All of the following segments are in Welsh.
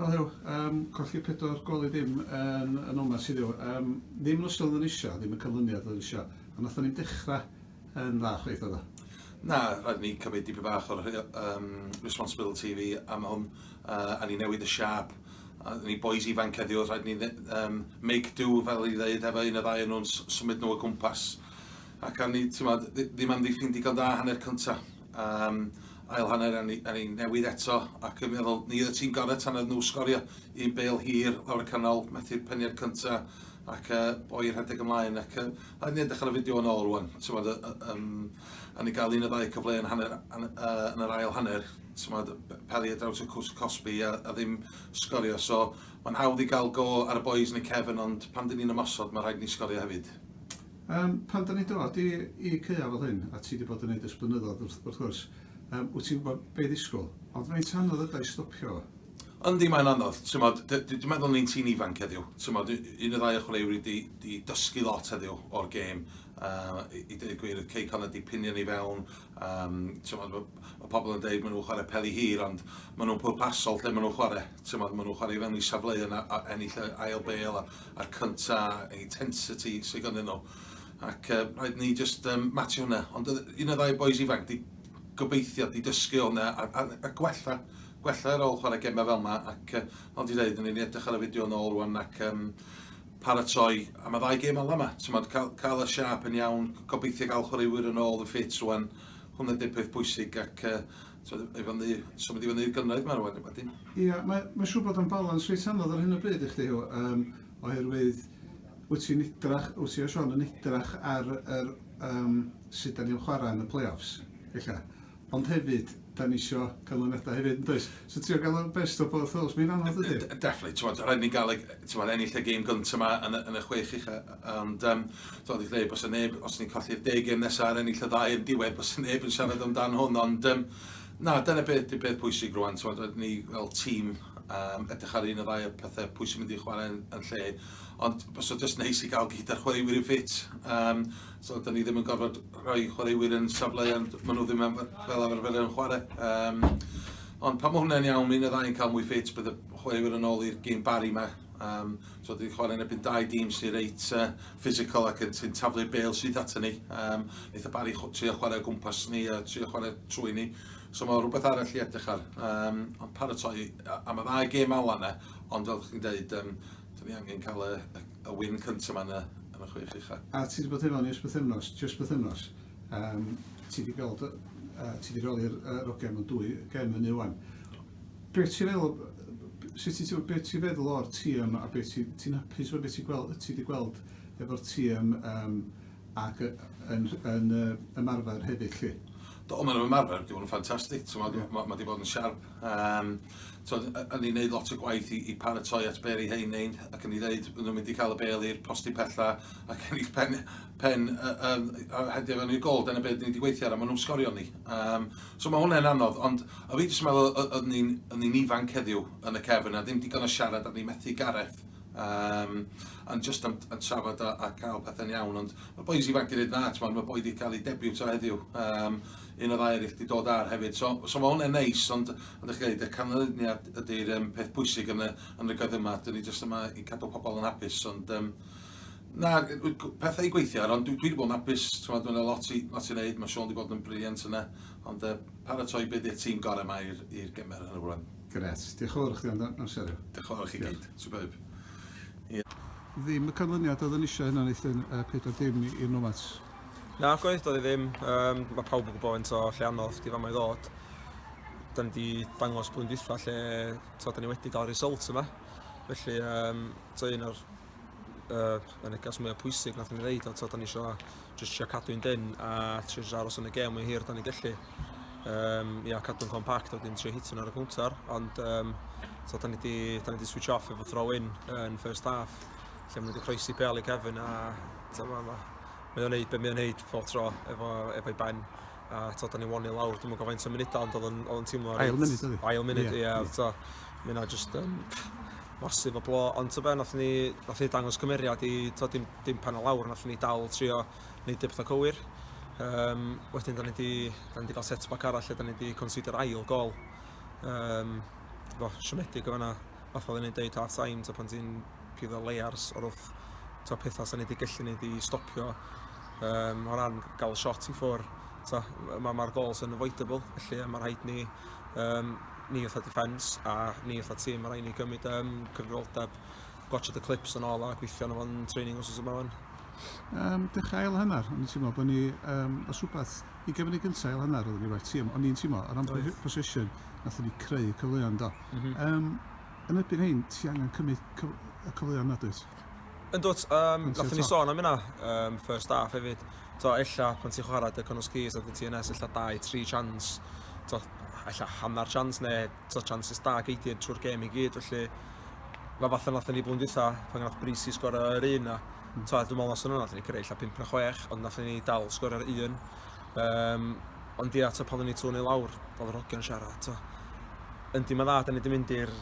O ddew, um, colli pedwar gol i ddim yn, yn omas i ddew. Um, ddim yn ystod yn eisiau, ddim yn cyflyniad yn eisiau. A nath ni'n dechrau yn dda chweith oedd Na, rhaid ni cymryd dipyn bach o'r um, responsibility fi am hwn. Uh, a ni newid y siap. A ni boys ifanc heddiw, rhaid ni um, make do fel i ddeud efo un o ddau nhw'n symud nhw o gwmpas. Ac a ni, ti'n ddim am ddiffyn digon da hanner cyntaf. um, ail hanner a ni, a ni newid eto ac yn meddwl ni oedd y tîm gorau tan oedd nhw sgorio un bel hir lawr y canol methu'r peniad cynta ac uh, boi rhedeg ymlaen ac uh, a ni'n edrych ar y fideo yn ôl rwan tymod, um, a ni'n cael un o ddau cyfle yn, hanner, yn, uh, yn yr ail hanner tymod, peli a draws y cwrs cosbi a, a ddim sgorio so mae'n hawdd i gael go ar y boys yn y cefn ond pan dyn ni'n ymosod mae rhaid ni sgorio hefyd Yym, pan dan ni'n dod i, i caeau fel hyn, a ti wedi bod yn neud ers blynyddoedd wrth, wrth gwrs, yym, wyt ti'n gwybod be ddisgwyl. Ond faint anodd yda i stopio? Yndi, mae'n anodd. T'mod, d- d- dwi'n meddwl ni'n tîn ifanc heddiw. T'mod, u- un neu ddau o chwaraewyr wedi 'di dysgu lot heddiw o'r gêm. Yy, i i deud y gwir, oedd Cei Connah 'di pinio ni fewn, Um, tymod, mae pobl yn dweud maen nhw'n chwarae peli hir, ond maen nhw'n pwrpasol lle maen nhw'n chwarae. Tymod, maen nhw'n chwarae i fewn i safleu yna, ennill y ail bel a'r cynta, intensity sy'n gynnyn nhw. Ac uh, rhaid ni just um, matio hwnna. Ond un o ddau boys ifanc, di gobeithio, di dysgu hwnna a, a, a gwella gwella ar ôl chwarae gemau fel yma ac uh, fel di dweud, ni'n edrych ar y fideo yn ôl rwan ac um, paratoi am y ddau gêm ola 'ma, t'mod ca'l ca'l y siâp yn iawn, gobeithio ga'l chwaraewyr yn ôl yn ffit rŵan, hwnna 'di'r peth bwysig ac yy t'mod i fyny, symud i fyny i'r gynradd 'ma rŵan wedyn. Ia, mae mae'n siŵr bod o'n balans reit anodd ar hyn o bryd i chdi Huw yym oherwydd wyt ti'n edrach, wyt ti a Siôn yn edrach ar yr yym sut 'dan ni'n chwarae yn y play-offs ella. Ond hefyd, da ni isio canlyniadau hefyd, yn does? So trio gael o'r best o both worlds, mae'n anodd ydy? Definitely, ti'n bod, rhaid ni gael bod, ennill y game gyntaf yma yn, yn y chwech i chi, ond um, dwi'n dweud, bos y neb, os ni'n colli'r deg game nesaf ar ennill y ddau yn diwedd, bos y neb yn siarad amdan hwn, ond um, na, dyna beth, dy beth pwysig rwan, ti'n bod, ni fel tîm um, edrych ar un o ddau o pethau pwysig mynd i chwarae yn, yn lle, ond bos o just neis i gael gyd ar chwaraewyr yn ffit, um, So, da ni ddim yn gorfod rhoi chwaraewyr yn safleoedd maen nhw ddim am, fel arfer yn chwarae. Um, ond pan mae hwnna'n iawn, mi'n y ddau'n cael mwy ffit, bydd y chwaraewyr yn ôl i'r gym bari yma. Um, so, da ni chwarae yn ebyn dau dîm sy'n reit uh, physical ac sy'n taflu bel sydd ato ni. Um, Eitha bari trio chwarae o gwmpas ni a trio chwarae trwy ni. So, mae rhywbeth arall i edrych ar. Um, ond paratoi, am y ddau gêm ala yna, ond fel chi'n dweud, um, da ni angen cael y, y, y win cyntaf yma yn y chwech ucha. A ti wedi bod efo ni ers bythefnos, jyst bythefnos. Um, ti wedi gweld, uh, ti wedi roli'r uh, rogem yn dwy gem hynny wan. Be ti'n feddwl, sut ti, be ti'n feddwl o'r tîm a be ti'n ti hapus o beth ti'n gweld, ti wedi gweld efo'r tîm um, ac yn, yn, yn uh, ymarfer hefyd lle? Do, maen nhw'n ymarfer, dwi'n nhw'n ffantastig, yeah. mae ma, ma wedi bod yn siarp. Um, t'od y- yn ei neud lot o gwaith i i paratoi at be' ry' rhein neud ac yn i ddeud bo' nhw'n mynd i ca'l y bêl i'r postyn pella ac ennill pen pen y- yym a hedio fewn i'r gôl dyna be' 'dyn ni 'di gweithio ar a ma' nhw'n sgorio ni yym so ma' hwnne'n anodd ond o' fi jyst yn meddwl o- oddwn ni'n oddwn ni'n ifanc heddiw yn y cefyn a ddim digon o siarad a ni methu Gareth yym yn jyst yn yn trafod a a ca'l pethe'n iawn ond ma' bois ifanc 'di neud dda t'mod ma' boi 'di ca'l ei debiwto heddiw yym un o ddau erill 'di dod ar hefyd so so ma' hwnne'n neis ond ond dach chi'n deud y canlyniad ydy'r yym peth pwysig yn y yn y gyfnod yma 'dyn ni jyst yma i cadw pobl yn hapus ond yym na pethau i gweithio ar ond dwi dwi 'di bod yn hapus t'mod ma' 'na lot i lot i wneud ma' Siôn 'di bod yn brilliant yna ond yy paratoi be' 'di'r tîm gore' 'ma i'r i'r gemer yn y rŵan. Grêt. Diolch yn fawr i chdi am am siario. Diolch yn fawr i chi gyd. Superb. Ie. Ddim y canlyniad oedden ni isio heno Nathan, yy pedwar dim i i'r Nomads. Na, gwaith doedd i ddim. Um, mae pawb yn gwybod faint o lle anodd di fama i ddod. Da ni wedi dangos blwyddyn dwytha lle to, da ni wedi cael result yma. Felly, um, to un o'r uh, y negas mwyaf pwysig nath ni ddeud, to, da ni eisiau just eisiau cadw'n dyn a trio eisiau aros yn y gem mwy hir da ni gallu. Um, ia, cadw'n compact a wedyn trio hitio'n ar y counter, ond um, to, da ni wedi switch off efo throw-in yn first half, lle mae wedi croesi bel i Kevin a dyma yma. Mae o'n neud be mae o'n neud pob tro efo efo'i ben a t'od 'dan ni'n won i lawr dwi'm yn gwbo faint o munuda ond o'dd o'n o'dd o'n teimlo reit... Ail munud oedd 'i. Ail munud ia ia. t'o' ma' ynna jyst yn massive o blo ond t'o' be' nathon ni nathon ni dangos cymeriad i t'o' dim dim pen o lawr nathon ni dal trio neud y petha cywir. Yym wedyn 'dan ni 'di 'dan ni 'di ga'l set back arall lle 'dan ni 'di concedio'r ail gôl. Yym t'bo' siomedig yn fan 'na. fatha oedden ni'n deud last time t'o' pan ti'n pigo layers o'r wrth t'o' petha sa ni 'di gallu neud i stopio um, o ran gael shot i ffwr' t'o' ma' ma'r goals yn avoidable felly a ma' rhaid ni um, ni fatha defence a ni fatha tîm ma' rhaid ni gymryd um, cyfrifoldeb gwachod y clips yn ôl a gweithio arno fo'n training os oes yma wan. Um, dechrau ail hanner, o'n i'n teimlo bod ni, um, os rhywbeth, ugain munud gynta ail hanner odden ni well team o'n i'n teimlo o ran possession nathon ni creu cyfleon do. Mhm. Yym yn erbyn hein ti angen cymryd cyf- y cyfleon nad wyt? Yndwt, um, nath ni sôn am yna, um, first half hefyd. To, ella, pan ti'n chwarae dy Connos Keys a dy TNS, ella dau, tri chance, to, ella hanner chance neu to, chances da geidiad trwy'r gêm i gyd, felly mae fath yna ni blwyddyn dwytha, pan gath Brisi sgor yr un na, T'wod dwi'n me'wl noson yna nathon ni cyrredd ella pump na chwech ond nathon ni dal sgor ar un. Yym ond ia t'o' pan o'n ni two neu lawr o'dd yr hogia'n siarad t'o'. Yndi ma'n dda 'dan ni 'di mynd i'r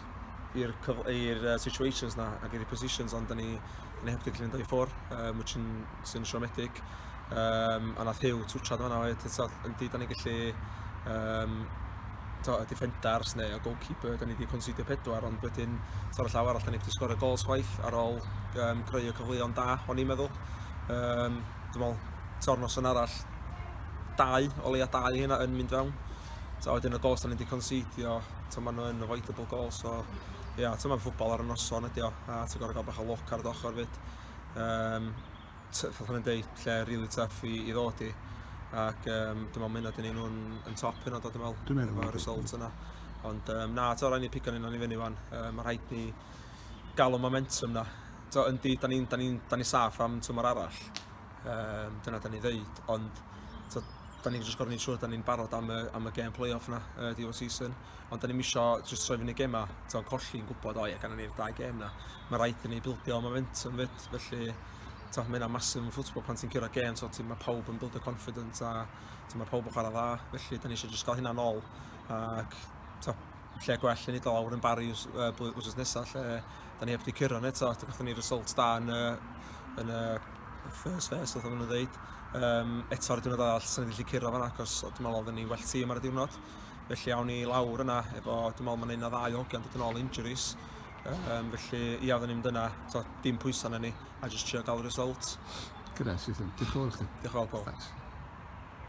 i'r cyf- i'r uh, situations 'na ac i'r positions ond 'dan ni 'dan ni heptically yn dau ffwr' um, which yn sy'n siomedig. um, a nath Hugh twtio fanna oedd, tyd, yndi, da ni gallu um, to, y defenders neu y goalkeeper, da ni wedi considio pedwar, ond wedyn tor y llaw arall, da ni wedi sgorio gols chwaith ar ôl um, greu y cyfleon da, o'n i'n meddwl. Um, dwi'n meddwl, tor nos yn arall, dau, o leia dau hynna yn mynd fewn. So, wedyn y gols da ni wedi considio, to maen nhw'n avoidable goals, so, ia, yeah, to maen ffwbol ar y noson ydi o, a ti'n gorau gael bach o loc ar y dochr fyd. Um, t- fatha mae'n deud, lle really tough i, i ddod i. Ac um, dwi'n meddwl mynd â dyn nhw'n yn top hyn o dod yn meddwl. Dwi'n meddwl. Efo'r result yna. Ond um, na, to, rhaid ni pigo ni'n i fyny fan. Um, mae rhaid ni gael o momentum na. To, yndi, da ni'n ni, ni, ni saff am tymor arall. Um, dyna da ni ddeud. Ond to, da ni'n just gorfod ni'n siŵr da ni'n barod am y, am y game play-off na, uh, diwedd season. Ond da ni'n misio just troi fyny gemau, to'n colli'n gwybod, o ie, gan ni'r dau game na. Mae rhaid i ni bildio momentum fyd. lot, felly t'o' ma' hynna massive yn football pan ti'n curo gêm t'o' ti ma' pawb yn buildio confidence a t'o' ma' pawb yn chwara dda felly 'dan ni isio jyst ga'l hynna nôl ac t'o' lle gwell yn iddo lawr yn Barry w's- yy blwy- wsos nesa lle 'dan ni heb 'di curo 'na eto a gathon ni result da yn y yn y first phase fatha ma' nw'n ddeud yym eto'r diwrnod arall swn i ddim 'di gallu curo fan 'na achos o dwi me'wl odden ni well tîm ar y diwrnod felly awn ni lawr yna efo dwi me'wl ma' 'na un ne' ddau o hogia'n dod yn ôl o injuries Um, felly, ia, oedden ni'n mynd yna, to, dim pwysa na ni, a jyst trio gael y result. Gyda, sydd yn. Diolch yn fawr chi. Diolch yn fawr, Paul. Thanks.